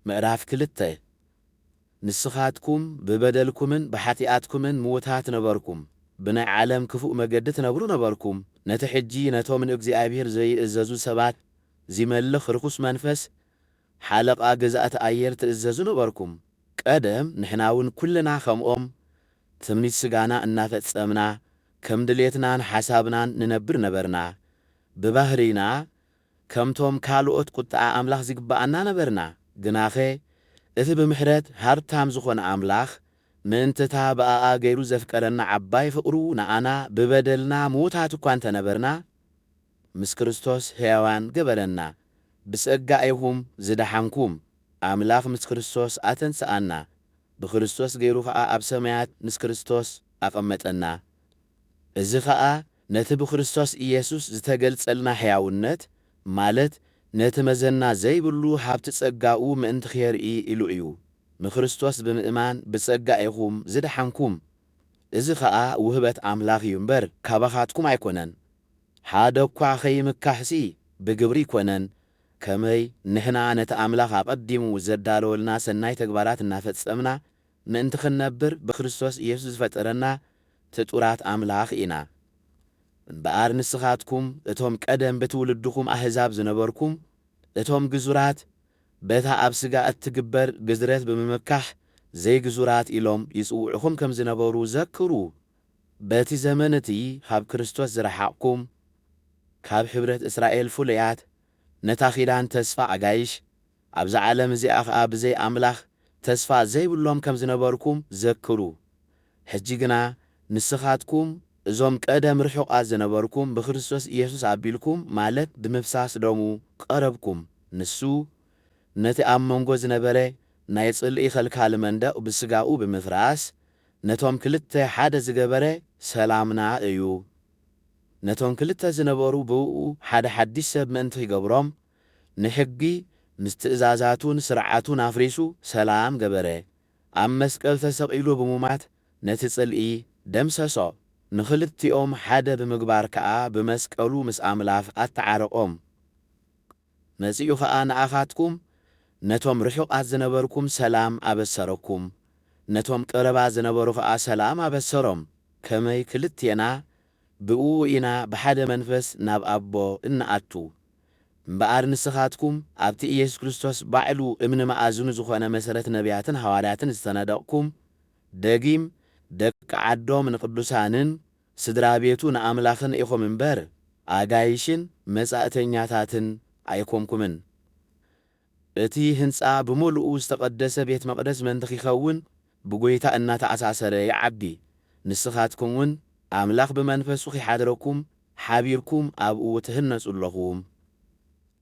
ምዕራፍ ክልተ፣ ንስኻትኩም ብበደልኩምን ብሓጢኣትኩምን ምዉታት ነበርኩም፣ ብናይ ዓለም ክፉእ መገዲ ትነብሩ ነበርኩም፣ ነቲ ሕጂ ነቶም ንእግዚኣብሄር ዘይእዘዙ ሰባት ዚመልኽ ርኹስ መንፈስ ሓለቓ ገዛእቲ ኣየር ትእዘዙ ነበርኩም። ቀደም ንሕናውን ኵልና ከምኦም ትምኒት ስጋና እናፈጸምና ከም ድሌትናን ሓሳብናን ንነብር ነበርና። ብባህርይና ከምቶም ካልኦት ቍጥዓ ኣምላኽ ዚግብኣና ነበርና። ግናኸ እቲ ብምሕረት ሃብታም ዝዀነ ኣምላኽ፣ ምእንቲ እታ ብኣኣ ገይሩ ዘፍቀረና ዓባይ ፍቕሩ፣ ንኣና ብበደልና ምዉታት እኳ እንተ ነበርና፣ ምስ ክርስቶስ ሕያዋን ገበረና። ብጸጋ ኢኹም ዝደሓንኩም፣ ኣምላኽ ምስ ክርስቶስ ኣተንስኣና፣ ብክርስቶስ ገይሩ ኸኣ ኣብ ሰማያት ምስ ክርስቶስ ኣቐመጠና። እዚ ኸኣ ነቲ ብክርስቶስ ኢየሱስ ዝተገልጸልና ሕያውነት፣ ማለት ነቲ መዘና ዘይብሉ ሃብቲ ጸጋኡ ምእንቲ ኼርኢ ኢሉ እዩ። ንክርስቶስ ብምእማን ብጸጋ ኢኹም ዝደሓንኩም፣ እዚ ኸኣ ውህበት ኣምላኽ እዩ እምበር፣ ካባኻትኩም ኣይኮነን። ሓደ እኳ ኸይምካሕሲ ብግብሪ ኣይኮነን፣ ከመይ ንሕና ነቲ ኣምላኽ ኣቐዲሙ ዘዳለወልና ሠናይ ተግባራት እናፈጸምና ምእንቲ ክንነብር ብክርስቶስ ኢየሱስ ዝፈጠረና ፍጡራት ኣምላኽ ኢና። እምበኣር ንስኻትኩም እቶም ቀደም ብትውልድኹም ኣህዛብ ዝነበርኩም፣ እቶም ግዙራት፣ በታ ኣብ ሥጋ እትግበር ግዝረት ብምምካሕ ዘይግዙራት ኢሎም ይጽውዑኹም ከም ዝነበሩ ዘክሩ። በቲ ዘመን እቲ ኻብ ክርስቶስ ዝረሓቕኩም፣ ካብ ኅብረት እስራኤል ፍሉያት፣ ነታ ኪዳን ተስፋ ኣጋይሽ፣ ኣብዛ ዓለም እዚኣ ኸኣ ብዘይ ኣምላኽ ተስፋ ዘይብሎም ከም ዝነበርኩም ዘክሩ። ሕጂ ግና ንስኻትኩም እዞም ቀደም ርሑቓት ዝነበርኩም ብክርስቶስ ኢየሱስ ኣቢልኩም ማለት ብምፍሳስ ደሙ ቐረብኩም። ንሱ ነቲ ኣብ መንጎ ዝነበረ ናይ ጽልኢ ኸልካሊ መንደቕ ብስጋኡ ብምፍራስ ነቶም ክልተ ሓደ ዝገበረ ሰላምና እዩ። ነቶም ክልተ ዝነበሩ ብእኡ ሓደ ሓድሽ ሰብ ምእንቲ ኺገብሮም ንሕጊ ምስ ትእዛዛቱን ስርዓቱን ኣፍሪሱ ሰላም ገበረ። ኣብ መስቀል ተሰቒሉ ብሙማት ነቲ ጽልኢ ደምሰሶ። ንኽልቲኦም ሓደ ብምግባር ከኣ ብመስቀሉ ምስ ኣምላኽ ኣተዓረቖም። መጺኡ ኸኣ ንኣኻትኩም ነቶም ርሑቓት ዝነበርኩም ሰላም ኣበሰረኩም፣ ነቶም ቀረባ ዝነበሩ ኸኣ ሰላም ኣበሰሮም። ከመይ ክልቴና ብእኡ ኢና ብሓደ መንፈስ ናብ ኣቦ እንኣቱ። እምበኣር ንስኻትኩም ኣብቲ ኢየሱስ ክርስቶስ ባዕሉ እምኒ መኣዝኑ ዝኾነ መሠረት ነቢያትን ሓዋርያትን ዝተነደቕኩም፣ ደጊም ደቂ ዓዶም ንቅዱሳንን ስድራ ቤቱ ንኣምላኽን ኢኹም እምበር ኣጋይሽን መጻእተኛታትን ኣይኮንኩምን። እቲ ህንጻ ብመሉኡ ዝተቐደሰ ቤት መቕደስ ምእንቲ ኺኸውን ብጐይታ እናተኣሳሰረ ይዓቢ። ንስኻትኩምውን ኣምላኽ ብመንፈሱ ኺሓድረኩም ሓቢርኩም ኣብኡ ትህነጹ ኣለኹም።